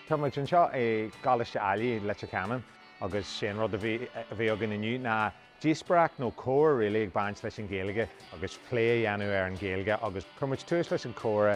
Tá muid anseo i gColáiste Ailigh Leitir Ceanainn agus sé an rud a bhí againn inniu ná díospóireacht nó comhrá really ag baint leis an Ghaeilge agus plé a dhéanamh ar an Ghaeilge agus chuir muid tús leis an chomhrá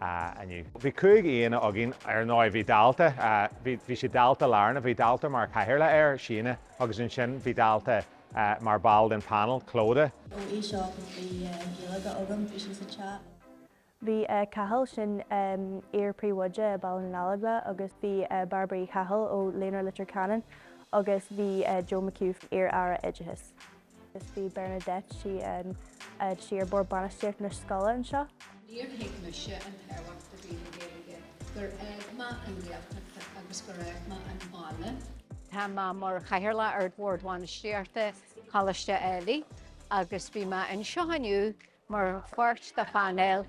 ah, inniu. Bhí cúig aíonna againn, ar ndóigh. Bhí dalta, ah, bhí, bhí sé dalta lárnach, bhí dalta mar cathaoirleach air, Síne, agus ansin bhí dalta eh mar ball den panel, Clodagh. oh, í seo agus bhí eh Gaeilge agam, bhí sí sa chat. Bhí eh Cathal, sin ehm iar-phríomhoide Phobalscoil Chloich Cheann Fhaola agus bhí eh Bairbre Uí Chathail ó Líonra Leitir Ceanainn agus bhí eh Joe McHugh, iar-aire oideachais. Agus bhí Bernadette tá sí ar bord bainistíocht na scoile anseo. Níor thuig mise an tábhacht a bhí le Gaeilge gur fhág mé an Ghaeltacht agus gur fhág mé an baile. Tá mé mar chathaoirleach ar bhord bhainistíochta Choláiste Ailigh agus bhí mé anseo inniu Mar pháirt de phainéal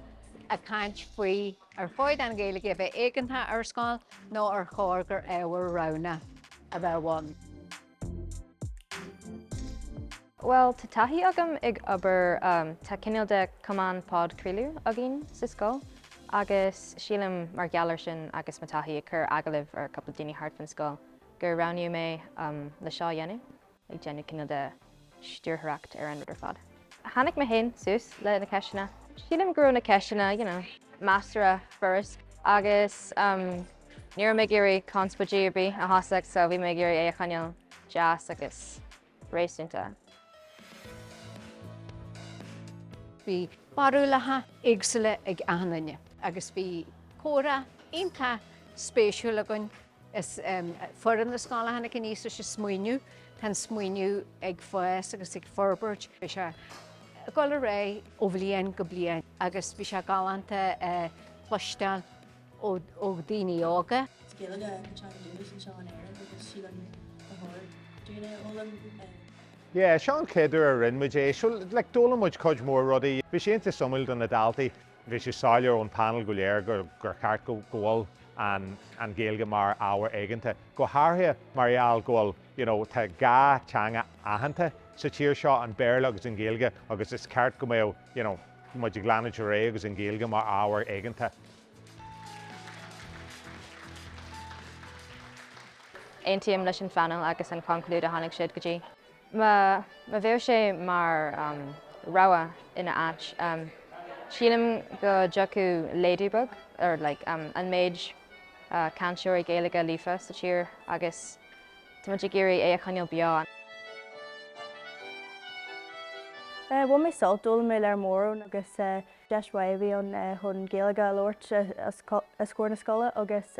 ag caint faoi ar chóir an Ghaeilge a bheith éigeantach ar scoil nó ar chóir gur ábhar roghnach a bheadh ann. Bhuel, tá taithí agam ag obair, tá cineál de Cumann Podchraoladh againn sa scoil agus sílim mar gheall ar sin agus mo taithí ag cur agallaimh ar cúpla daoine thart fan scoil gur roghnaíodh mé le seo a dhéanamh. ag déanamh cineál de stiúrthóireacht ar an rud ar fad. Tháinig mé féin suas le na ceisteanna. Sílim go raibh na ceisteanna, you know. measartha furast agus ní raibh mé ag iarraidh conspóid ar bith a thosacht so bhí mé ag iarraidh é a choinneáil deas agus réasúnta. Bhí barúlacha éagsúla ag achan duine. agus bhí comhrá iontach spéisiúil againn. Is foireann na scoile a tháinig aníos leis an smaoineamh. Tá an smaoineamh ag fás agus ag forbairt. Beidh sé ag dul ar aghaidh ó bhliain go bliain agus bhí sé galánta a chloisteáil ó daoine óga. Is Gaeilge an teanga s'againne anseo in Éirinn agus sílim gur chóir dúinn é a fhoghlaim. Yeah, seo an chéad uair a rinne muid é, so like d'fhoghlaim muid cuid mhór rudaí. Bhí sé iontach suimiúil do na daltaí. Bhí sé soiléir ón panel go léir gur cheart go bhfuil an Ghaeilge mar ábhar éigeanta, go háirithe mar gheall go bhfuil, you know, tá dhá teanga aitheanta sa tír seo, an Béarla agus an Ghaeilge agus is ceart go mbeadh, you know, muid ag leanúint ar aghaidh agus an Ghaeilge mar ábhar éigeanta. Aontaím leis an phanel agus an chonclúid a tháinig siad go dtí. Má bheadh sé mar rogha ina áit, sílim go dtiocfadh laghdú beag ar an méid cainteoirí Gaeilge líofa sa tír agus tá muid ag iarraidh é a choinneáil beo. Bhain mé sult, d'fhoghlaim mé lear mór ann agus deis mhaith a bhí ann chun Gaeilge a labhairt os comhair na scoile agus